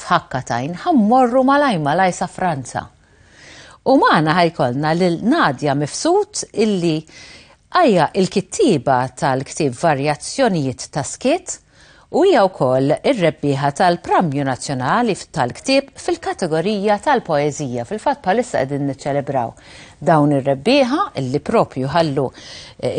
f'ħakka t'għajn ħa mmorru malaj malaj sa Franza. U magħna ħa jkollna lil Nadia Mifsud illi hija l-kittieba tal-ktieb Varjazzjonijiet ta' Skiet u hija wkoll ir-rebbieħa tal-Premju Nazzjonali tal-Ktieb fil-kategorija tal-poeżija. Fil-fatt bħalissa qegħdin niċċelebraw dawn ir-rebbieħa illi propju ħallu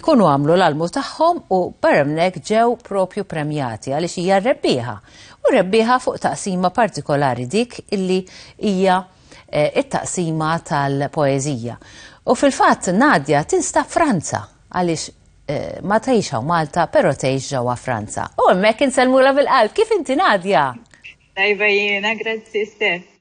ikunu għamlu l-almu tagħhom u barra minn hekk ġew propju premjati għaliex hija r-rebbieħa. U rebbieħa fuq taqsima partikolari dik illi hija t-taqsima tal-poeżija. U fil-fatt Nadia tinstab Franza għaliex ma tgħix hawn Malta però tgħix ġewwa Franza. U hemmhekk insellmulha bil-qalb. Kif inti Nadia? Tajba jiena, grazzi Steph.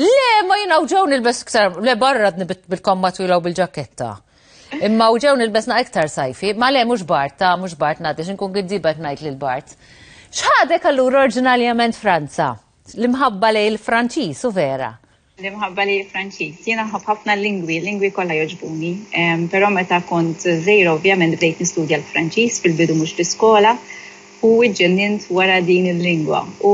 Le, ma jina uġew nilbes iktar, le barra bil-komma twila u bil-ġaketta. Imma uġew nilbesna iktar sajfi, ma le mux bart, ta' mux bart nadi, xinkun għiddibet najt li l-bart. ċħadek għallur orġinaljament Franza, l-imħabba li l-Franċis u vera. L-imħabba li l-Franċis, jina ħafna lingwi, lingwi kolla joġbuni, pero meta kont zejra ovvjament bdejt nistudja l-Franċis fil-bidu mux l-iskola, u ġġennint wara din il-lingwa u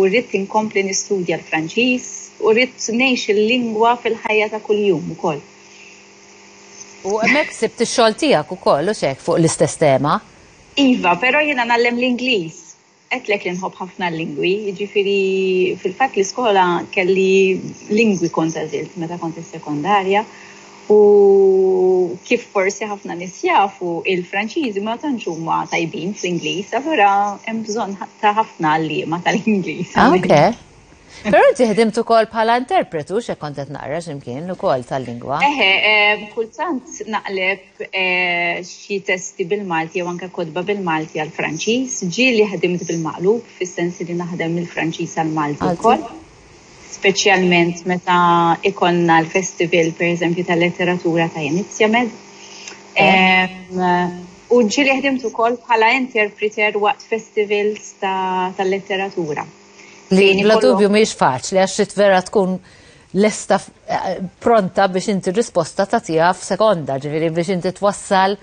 ridt inkompli nistudja l-Franċiż u ridt ngħix il-lingwa fil-ħajja ta' kuljum ukoll. U hemmhekk sibt ix-xogħol tiegħek ukoll hux hekk fuq l-istess tema? Iva, però jiena ngħallem l-Ingliż. Għedtlek li nħobb ħafna l-lingwi, jiġifieri fil-fatt l-iskola kelli lingwi kont għażilt meta kont is-sekondarja. U kif forsi ħafna nies jafu, il-Franċiżi ma tantx huma tajbin fl-Ingliż, allura hemm bżonn ta' ħafna għalliema tal-Ingliż. Ah, ok. Pero inti ħdimt ukoll bħala interpretu xe kont qed naqra x'imkien ukoll tal-lingwa. Eħe, eh, kultant naqleb eh, xi testi bil-Malti jew anke kodba bil-Malti għal Franċiż, ġieli ħdimt bil-maqlub fis-sens li naħdem il-Franċiż għal Malti wkoll. speċjalment meta ikonna l-festival per eżempju tal-letteratura ta' Inizjamed. U ġili ħdimt ukoll bħala interpreter waqt festivals tal-letteratura. Li bla dubju miex faċli għax trid vera tkun lesta eh, pronta biex inti risposta ta' tiegħek f'sekonda, ġifieri biex inti twassal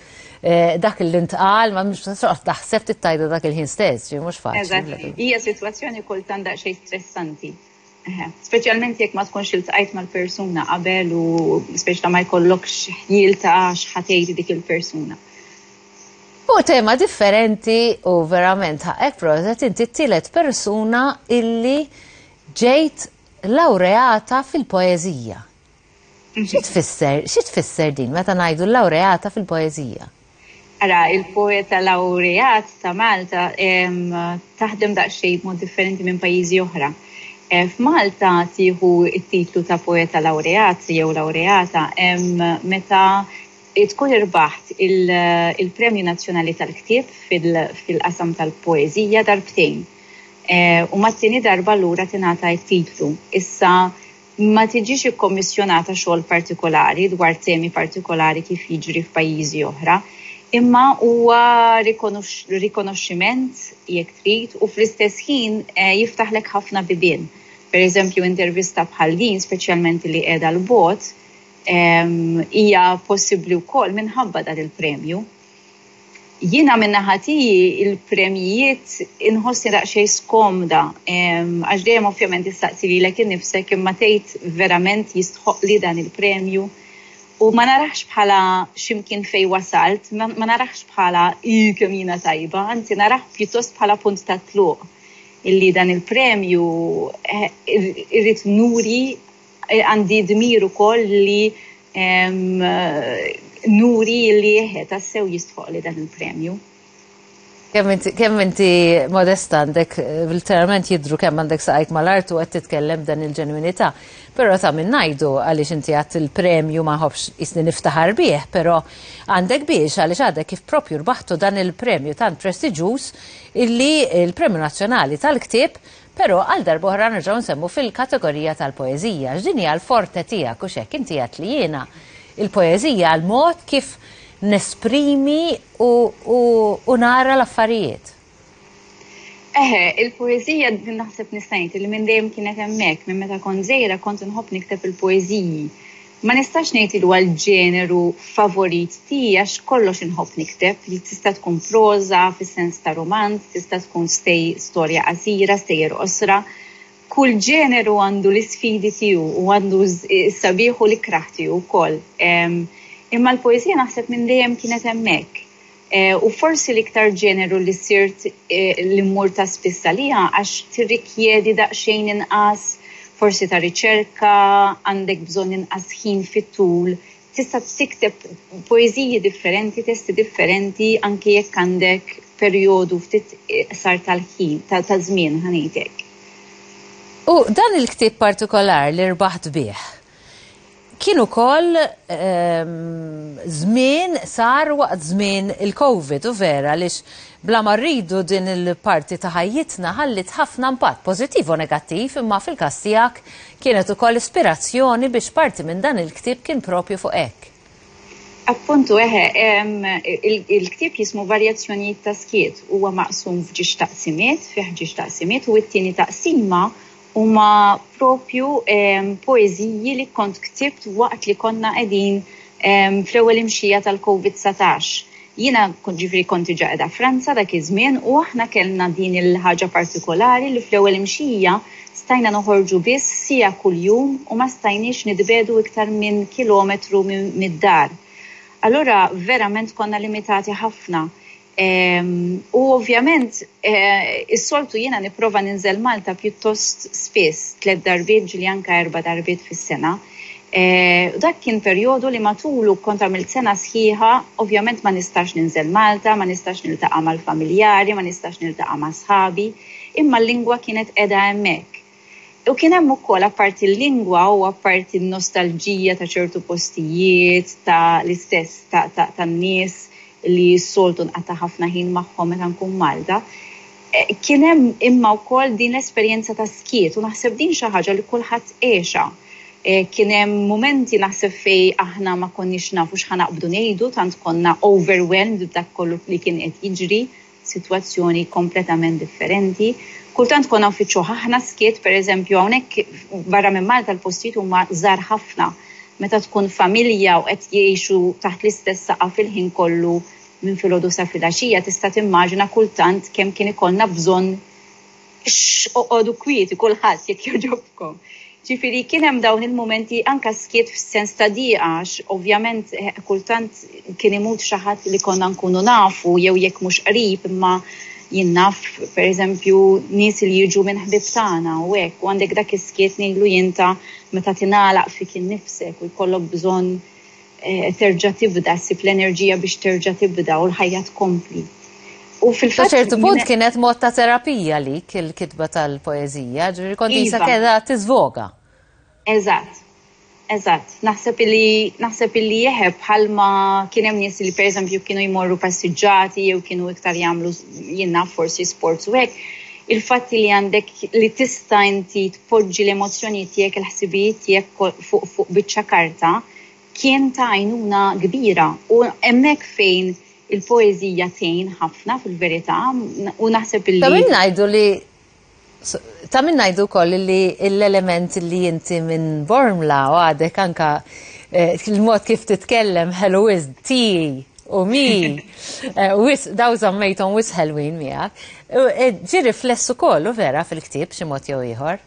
Dak li ntqal, ma mhux toqgħod taħseb tittajda dak il-ħin stess, ġi mhux faċli. Eżatt, hija sitwazzjoni kultant daqsxejn stressanti. Speċjalment jekk ma tkunx iltqajt mal-persuna qabel u speċjalment ma jkollokx ħjiel ta' x'ħatejt dik il-persuna. U tema differenti u verament ħaqek prożet inti t-tielet persuna illi ġejt laureata fil-poeżija. Xi tfisser, xi tfisser din meta ngħidu l-lawreata fil-poeżija? Ara, il-poeta lawreat ta' Malta taħdem daqsxejn b'mod differenti minn pajjiżi oħra. Eh, F'Malta tieħu it-titlu ta' poeta laureat jew laureata meta tkun irbaħt il-Premju Nazzjonali tal-Ktieb fil-qasam tal-poeżija darbtejn. Eh, u mat-tieni darba lura tingħata t-titlu. Issa Ma tiġix ikkommissjonata xogħol partikolari dwar temi partikolari kif jiġri f'pajjiżi oħra, imma huwa rikonoxximent, jekk trid, u fl-istess ħin jiftaħlek ħafna bibien. Pereżempju, intervista bħal din, speċjalment li qiegħda 'l bogħod, hija possibbli wkoll minħabba dan il-premju. Jiena minn naħa tiegħi il-premjijiet inħossni daqsxejn skomda għax dejjem ovvjament tistaqsi lilek innifsek imma tgħid verament jistħoqqli dan il-premju u ma narahx bħala x'imkien fejn wasalt, ma narahx bħala ih kemm jiena tajba, anzi narah pjuttost bħala punt tat-tluq illi dan il-premju irrid nuri Għandi dmir ukoll li nuri li eħe tassew jistħoqqli dan il-premju. Kemm inti modesta għandek, literalment jidhru kemm għandek saqajk mal-art u qed titkellem b'dan il-ġenwinità. Però ta' min ngħidu għaliex inti għad il-premju ma nħobbx qisni niftaħar bih, però għandek biex għaliex għadek kif proprju rbaħtu dan il-premju tant prestiġjuż illi l-Premju Nazzjonali tal-Ktieb Però għal darb'oħra nerġgħu nsemmu fil-kategorija tal-poeżija, għax din hija l-forte tiegħek, hux hekk? Inti għedt li jiena, il-poeżija hija l-mod kif nesprimi u nara l-affarijiet. Eħe, il-poeżija naħseb nista' ngħid li minn dejjem kienet hemmhekk, minn meta kont żgħira kont inħobb nikteb il-poeżiji. Ma nistax ngħid li huwa l-ġeneru favorit tiegħi għax kollox inħobb nikteb, li tista' tkun proża fis-sens ta' rumanz, tista' tkun stej storja qasira, stejjer qosra. Kull ġeneru għandu l-isfidi tiegħu u għandu s-sabiħ u l-ikrah tiegħu wkoll. Imma l-poeżija naħseb minn dejjem kienet hemmhekk. u forsi l-iktar ġeneru li sirt li mmur ta' spiss għaliha għax tirrikjedi daqsxejn inqas forsi ta' riċerka, għandek bżonn inqas ħin fit-tul, tista' tikteb poeżiji differenti, testi differenti anke jekk għandek perjodu ftit iqsar tal-ħin, taż-żmien ħa ngħid hekk. U dan il-ktieb partikolar li rbaħt bih, Kien ukoll żmien sar waqt żmien il-Covid u vera għaliex bla ma rridu din il-parti ta' ħajjitna ħalliet ħafna impatt pożittiv u negattiv imma fil-każ tiegħek kienet ukoll ispirazzjoni biex parti minn dan il-ktieb kien propju fuq hekk. Appuntu eħe, il-ktieb jismu Varjazzjonijiet ta' Skiet huwa maqsum f'ġiex taqsimiet, fih ġiex taqsimiet u t-tieni taqsima Huma proprju poeżiji li kont ktibt waqt li konna qegħdin fl-ewwel imxija tal-Covid 19. Jiena ġifieri kont diġà qiegħda Franza dak iż-żmien u aħna kellna din il-ħaġa partikolari li fl-ewwel imxija stajna noħorġu biss siegħa kuljum u ma stajniex nitbiegħdu iktar minn kilometru mid-dar. Allura verament konna limitati ħafna. U ovvjament, eh, is-soltu jiena nipprova ninżel Malta pjuttost spiss, tliet darbiet ġili anka erba' darbiet fis-sena. Eh, dak kien perjodu li matulu kont għamilt sena sħiħa, ovvjament ma nistax ninżel Malta, ma nistax niltaqa' mal-familjari, ma nistax niltaqa' ma' sħabi, imma l-lingwa kienet qiegħda hemmhekk. U kien hemm ukoll apparti l-lingwa u apparti n-nostalġija ta' ċertu postijiet, ta' l-istess ta' ta' tan-nies li s-soltu nqata' ħafna ħin magħhom meta nkun Malta, kien hemm imma wkoll din l-esperjenza ta' skiet u naħseb din xi ħaġa li kulħadd għexha. Kien hemm mumenti naħseb fej aħna ma konniex nafu x'ħa naqbdu ngħidu tant konna overwhelmed b'dak kollu li kien qed jiġri sitwazzjoni kompletament differenti. Kultant konna nfittxuh aħna skiet, pereżempju hawnhekk barra minn Malta l-postijiet huma żgħar ħafna. Meta tkun familja u qed jgħixu taħt l-istess saqaf il-ħin kollu minn filgħodu sa filgħaxija tista' timmaġina kultant kemm kien ikollna bżonn Oqogħdu kwieti kulħadd jekk jogħġobkom. Ġifieri kien hemm dawn il-mumenti anke skiet f'sens ta' dieqa għax ovvjament eh, kultant kien imut xi ħadd li konna nkunu nafu jew jekk mhux qrib imma jien naf pereżempju nies li jiġu minn ħbib tagħna u hekk u għandek dak is-skiet ngħidlu jinta meta tingħalaq fik innifsek u jkollok bżonn terġa' tibda, ssib l-enerġija biex terġa' tibda u l-ħajja tkompli. U fil-fatt. Sa ċertu punt kienet mod ta' terapija lik il-kitba tal-poeżija, ġifieri kont iva. isa keda tiżvoga. Eżatt. Eżatt, naħseb li naħseb li jeħeb bħalma kien hemm nies li pereżempju kienu jmorru passiġġati jew kienu iktar jagħmlu jinnna forsi sports u hekk. Il-fatti li għandek li tista' inti tpoġġi l-emozzjonijiet tiegħek il-ħsibijiet tiegħek fuq fuq biċċa karta kien ta' għajnuna kbira u hemmhekk fejn il-poeżija tgħin ħafna fil-verità u naħseb li. Ta' min ngħidu li ta' min ngħidu wkoll li l-element li inti minn Bormla u għadek anke il-mod kif titkellem ħelu wisq ti u mi wisq daw żammejthom wisq ħelwin miegħek ġie rifless ukoll u vera fil-ktieb b'xi mod jew ieħor.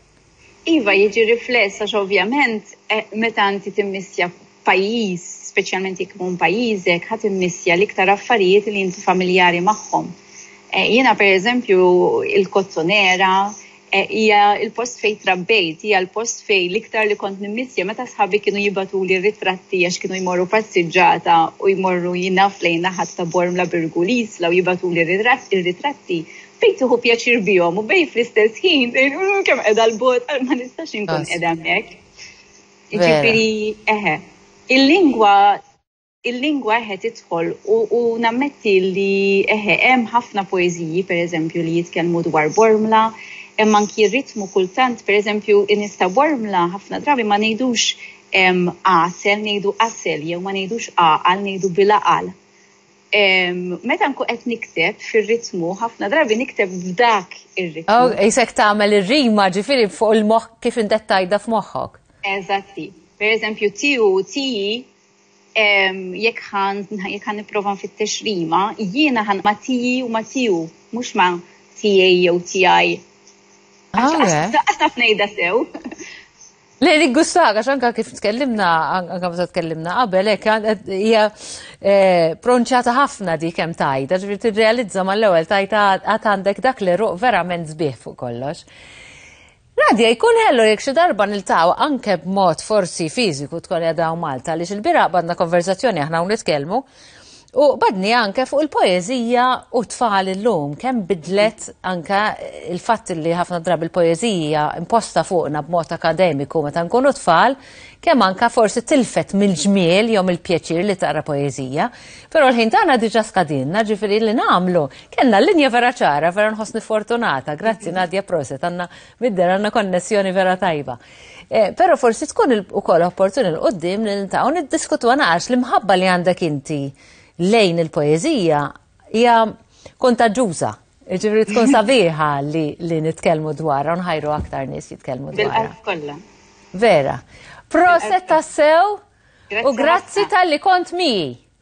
Iva, jiġi rifless għax ovvjament meta inti timmissja pajjiż, speċjalment jekk ikun pajjiżek, ħa timmissja l-iktar affarijiet li inti familjari magħhom. Eh, jiena pereżempju il-Kozzonera eh, hija l-post fejn trabbejt, hija l-post fejn l-iktar li kont nimmissja meta sħabi kienu jibatuli ritratti għax kienu jmorru passiġġata u jmorru jinaf lejn naħat ta' Bormla Birgu Lisla u jibatuli ritratti fejn tieħu pjaċir bihom u bejn fl-istess ħin mm, kemm qiegħda l-bot ma nistax inkun qiegħda hemmhekk. Ġifieri eħe. Il-lingwa il-lingwa eħe tidħol u nammetti li eħe hemm ħafna poeżiji pereżempju li jitkellmu dwar bormla, hemm anki ritmu kultant pereżempju inista bormla ħafna drabi ma ngħidux għasel ngħidu asel jew ma ngħidux aqal ngħidu bilaqal. Meta nkun qed nikteb fir-ritmu, ħafna drabi nikteb f'dak ir-ritmu. Oh, isek tagħmel ir-rima ġifieri fuq il-moħħ kif intet tajda f'moħħok. Eżatti. Per eżempju, tiju, tiji, jekk ħan jekk ħan nipprova nfittex rima, jiena ħan ma tiji u ma tiju, mhux ma tijaj jew tijaj. Għax ah, taf ngħidha sew. Le li gustak, għax anka kif tkellimna, anka meta tkellimna qabel, hekk hija eh, pronċata ħafna dik hemm tajta, ġifieri tirrealizza mal-ewwel tajta għad għandek dak li ruq verament sbieħ fuq kollox. Nadja, jkun ħellu jek xi darba niltaw anke b'mod forsi fiżiku tkun jadaw Malta li xil-bira għandna konverzazzjoni aħna u nitkellmu U badni anke fuq il-poezija u tfal illum, kemm bidlet anke il-fatt li ħafna drabi il-poezija imposta fuqna b'mod akademiku meta nkunu tfal, kemm anke forsi tilfet mill-ġmiel jew mill-pjaċir li taqra poezija. Però l-ħin tagħna diġà skadinna, ġifieri li nagħmlu. Kellna l-linja vera ċara, vera nħossni fortunata. Grazzi Nadja Proset, għandna midder għandna konnessjoni vera tajba. Eh, Pero forsi tkun ukoll opportuni l-qoddim li ntaw niddiskutu għanax li mħabba li għandek inti lejn il-poezija hija kontaġġuża. Ġifri tkun sabiħa li, li nitkelmu dwarra, nħajru aktar nis jitkelmu dwarra. Vera. Proset tassew u grazzi tal-li kont mi.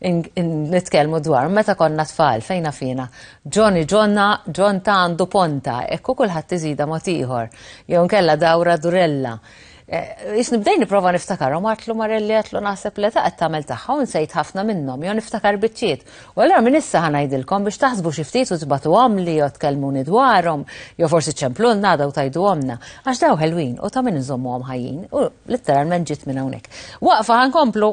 nitkellmu dwar meta konna tfal fejn fina. Ġoni ġonna, ġon ta' għandu ponta, ekku kulħadd iżida mod ieħor. Jew nkella dawra durella. Eh, Ix nibdej niprofa niftakar, u martlu marelli għatlu naħseb li ta' għattamel taħħa un sejt ħafna minnom, jo niftakar bitċiet. U għallura minn issa ħanajdilkom biex taħsbu xiftit u tbatu għamli, jo tkellmuni dwarom, jo forsi ċemplu nada u tajdu għamna, għax daw ħelwin u ta' minn nżommu għam ħajjin, u litteralment ġit minn hawnhekk. Waqfa ħankomplu